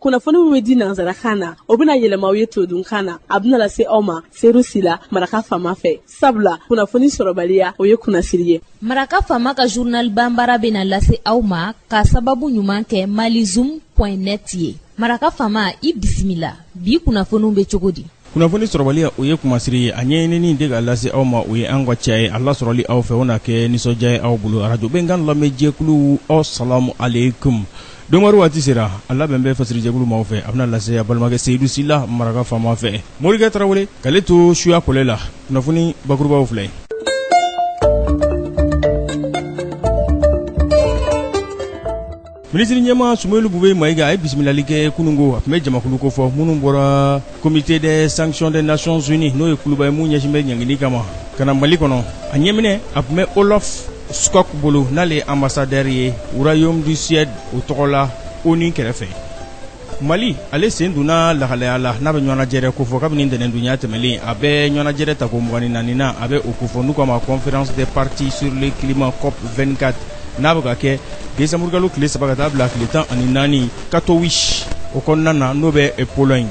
kunnafoni min bɛ di nansarakan na o bɛna yɛlɛma aw ye todunkan na a bɛna lase aw ma seru sila maraka faama fɛ sabula kunnafoni sɔrɔbaliya o ye kunnasiri ye maraka faama ka journal banbara bɛna lase aw ma ka sababu ɲuman kɛ malizoom net ye maraka faama i bisimila bi kunnafoniw bɛ cogo di kunnafoni sɔrɔbaliya o ye kunmasiri ye a ɲɛɲinini de ka lase aw ma o ye an ka ci ye a lasɔrɔli aw fɛ o na kɛ nisɔndiya ye aw bolo arajo bɛnkan lamɛnjɛkulu asalamu aleykum donkibaru waati sera a labɛn bɛ fasirijɛkulu maaw fɛ a bɛna lase a balimakɛ seyidu sila maraka faama fɛ morikɛ tarawele k'ale to suya kɔlɛ la kunnafoni bakurubaw filɛ minisiri ɲɛmaa sumelu bube mayiga a ye bisimilali kɛ kunungo a tun bɛ jamakulu kofɔ minnu bɔra comité des sanctions des nations unies n'o ye kuluba ye mun ɲɛsin bɛ ɲangili kama ka na mali kɔnɔ a ɲɛminɛ a tun bɛ olof skoog bolo n'ale ye ambasadɛri ye royaume du suède o tɔgɔ la onu kɛrɛfɛ mali ale sen donna lahalaya la n'a bɛ ɲɔgɔnnajɛrɛ kofɔ kabini ntɛnɛndonya tɛmɛlen a bɛ ɲɔgɔnnajɛrɛ tako mugan ni naaninan a bɛ o kofɔ n'u k'a ma conférence des parties sur le climat cop 24 n'a bɛ ka kɛ desanburukalo tile saba ka taa bila tile tan ani naani katowice o kɔnɔna na n'o bɛ pologne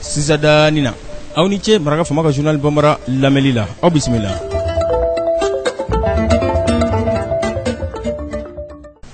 sisadani na aw ni ce maraka faama ka journal banbara lamɛnli la aw bisimila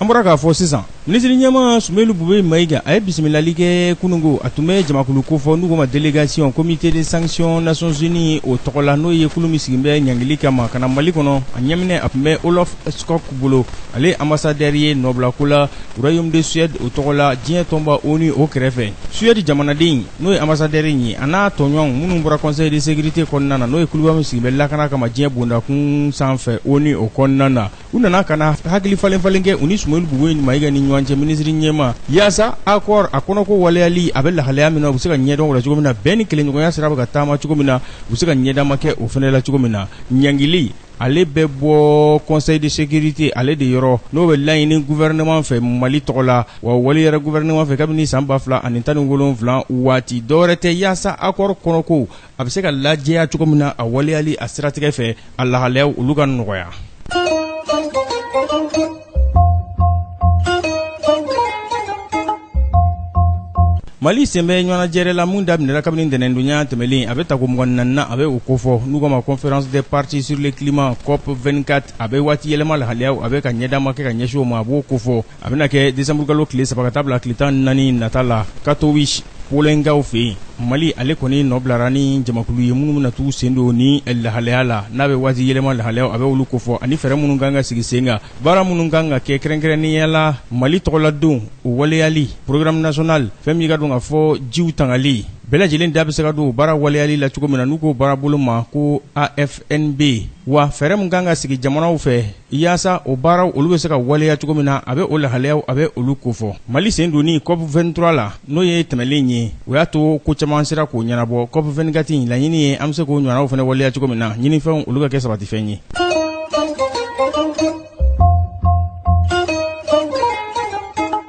an bɔra k'a fɔ sisan minisiri ɲɛmaa sumelu bube mayiga a ye bisimilali kɛ kunungo a tun bɛ jamakulu kofɔ n'u k'o ma délégation comité des sanctions nations unies o tɔgɔ la n'o ye kulu min sigin bɛ ɲangili kama ka na mali kɔnɔ a ɲɛminɛ a tun bɛ olof skoog bolo ale ambasadɛri ye nɔbilako la royaume de suède o tɔgɔ la diɲɛ tɔnba onu o kɛrɛfɛ suède jamanaden n'o ye ambasadɛri ye a n'a tɔɲɔgɔnw minnu bɔra conseil de sécurité kɔnɔna na n'o ye kuluba min sigilen bɛ lakana kama diɲɛ bondakun sanfɛ onu o kɔnɔna na u nana ka na hakili falenfalen kɛ u ni sumelu bube mayiga ni ɲɔgɔn cɛ minisiri ɲɛmaa yaasa accord a kɔnɔko waleyali a bɛ lahalaya min na u bɛ se ka ɲɛ da o la cogo min na bɛn ni kelenɲɔgɔnya sira bɛ ka taama cogo min na u bɛ se ka ɲɛdama kɛ o fana la cogo min na ɲangili ale bɛ bɔ conseil de sécurité ale de yɔrɔ n'o bɛ laɲini gouvernement fɛ mali tɔgɔ la wa mali yɛrɛ gouvernement fɛ kabini san ba fila ani tan ni wolonwula waati dɔwɛrɛ tɛ yaasa accord kɔnɔko a bɛ se ka lajɛya cogo min na a waleyali a siratigɛ fɛ a lahalayaw olu ka nɔgɔya mali sen bɛ ɲɔgɔnnajɛrɛ la mun daminɛra kabini ntɛnɛndonya tɛmɛlen a bɛ tako mugan ni naaninan a bɛ o kofɔ n'u k'a ma conférence des parties sur le climat cop 24 a bɛ waati yɛlɛma lahalayaw a bɛ ka ɲɛdama kɛ ka ɲɛsin o ma a b'o kofɔ a bɛna kɛ desanburukalo tile saba ka taa bila tile tan naani nata la katowice Polenkaw fɛ yen mali ale kɔni nɔbilara ni jamakulu ye minnu bɛna taa u sen don nin lahalaya la n'a bɛ waati yɛlɛma lahalayaw a bɛ olu ko fɔ ani fɛɛrɛ minnu kan ka sigi sen kan baara minnu kan ka kɛ kɛrɛnkɛrɛnnenyala mali tɔgɔladon o waleyali programme national fɛn min ka dɔn ka fɔ jiw tangali bɛɛ lajɛlen da bɛ se ka don baara waleyali la cogo min na n'u ko baarabolo ma ko AFNB wa fɛɛrɛ min kan ka sigi jamanaw fɛ Yaasa o baaraw olu bɛ se ka waleya cogo min na a bɛ o lahalayaw a bɛ olu ko fɔ mali sen donni COP vingt-trois la n'o ye tɛmɛnlen ye o y'a to ko caman sera k'o ɲɛnabɔ COP vingt-quatre in laɲini ye an bɛ se k'o ɲɔgɔnnaw fana waleya cogo min na ɲinifɛnw olu ka kɛ sabatifɛn ye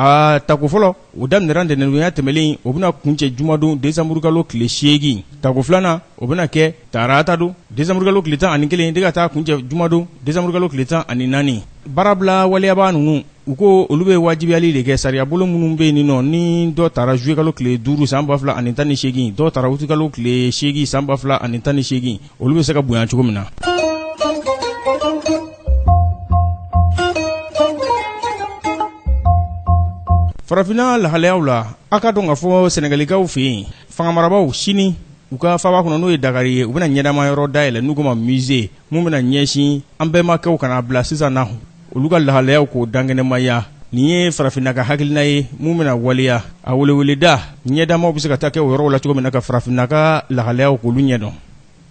A tago fɔlɔ o daminɛra ntɛnɛndonya tɛmɛnen o bɛna kuncɛ jumadon dɛsɛmburukalo tile seegin tago filanan o bɛna kɛ tarata don dɛsɛmburukalo tile tan ani kelen de ka taa kuncɛ jumadon dɛsɛmburukalo tile tan ani naani baarabila waleyabaa ninnu u ko olu bɛ wajibiyali de kɛ sariyabolo minnu bɛ nin nɔ ni dɔ tara zuyekalo tile duuru san ba fila ani tan ni seegin dɔ tara utikalo tile seegin san ba fila ani tan ni seegin olu bɛ se ka bonya cogo min na farafinna lahalayaw la a ka dɔn ka fɔ sɛnɛgalikaw fɛ yen fangamarabaw sini u ka faaba kɔnɔ n'o ye dakari ye u bɛna ɲɛdama yɔrɔ dayɛlɛ n'u ko ma musée mun bɛna ɲɛsin an bɛnbakɛw ka n'a bila sisan na olu ka lahalayaw k'o dankɛnɛmaya nin ye farafinna ka hakilina ye mun bɛna waleya a weleweleda ɲɛdamaw bɛ se ka taa kɛ o yɔrɔw la cogo min na ka farafinna ka lahalayaw k'olu ɲɛdɔn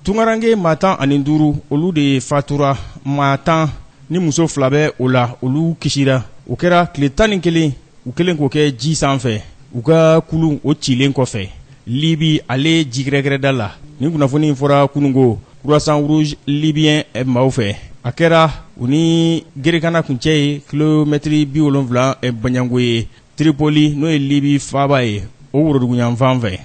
tunkaranke maa tan ani duuru olu de fatura maa tan ni muso fila bɛ o la olu kisira o kɛra tile tan ni kelen u kɛlen k'o kɛ ji sanfɛ u ka kulu o cilen kɔfɛ libi ale jigɛrɛgɛrɛda la nin kunnafoni fɔra kunungo croissant rouge libyen maaw fɛ a kɛra u ni gerekana kuncɛ ye kilomɛtɛrɛ bi wolonwula bɔɲɔgɔnko ye tiripoli n'o ye libi faaba ye o woroduguyanfan fɛ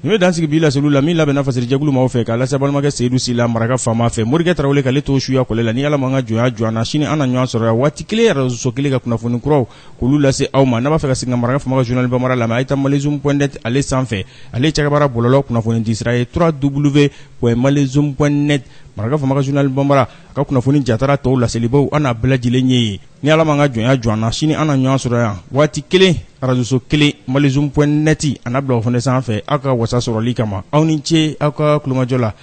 nin bɛ dan sigi bi laseliw la min labɛnna fasirijɛkulu maaw fɛ k'a lase balimakɛ seyidu sila maraka faama fɛ morikɛ tarawele k'ale to suya kɔlɛ la ni ala m'an ka jɔnya jɔ an na sini an na ɲɔgɔn sɔrɔ yan waati kelen arajoso kelen ka kunnafoni kuraw k'olu lase aw ma n'a b'a fɛ ka segin ka maraka faama ka journal bambara lamɛn a ye taa maison point net ale sanfɛ ale cɛkɛbaara bɔlɔlɔ kunnafoni di sira ye www.maison.net maraka faama ka journal bambara a ka kunnafoni jatara tɔw laselibaw an n'a bɛɛ lajɛlen ye yen ni ala m'an ka jɔnya jɔ an na sini an na ɲɔgɔn sɔrɔ yan waati kelen arajoso kelen maison point net an n'a bila o fana sanfɛ aw ka wasa sɔrɔli kama aw ni ce aw ka tulomajɔ la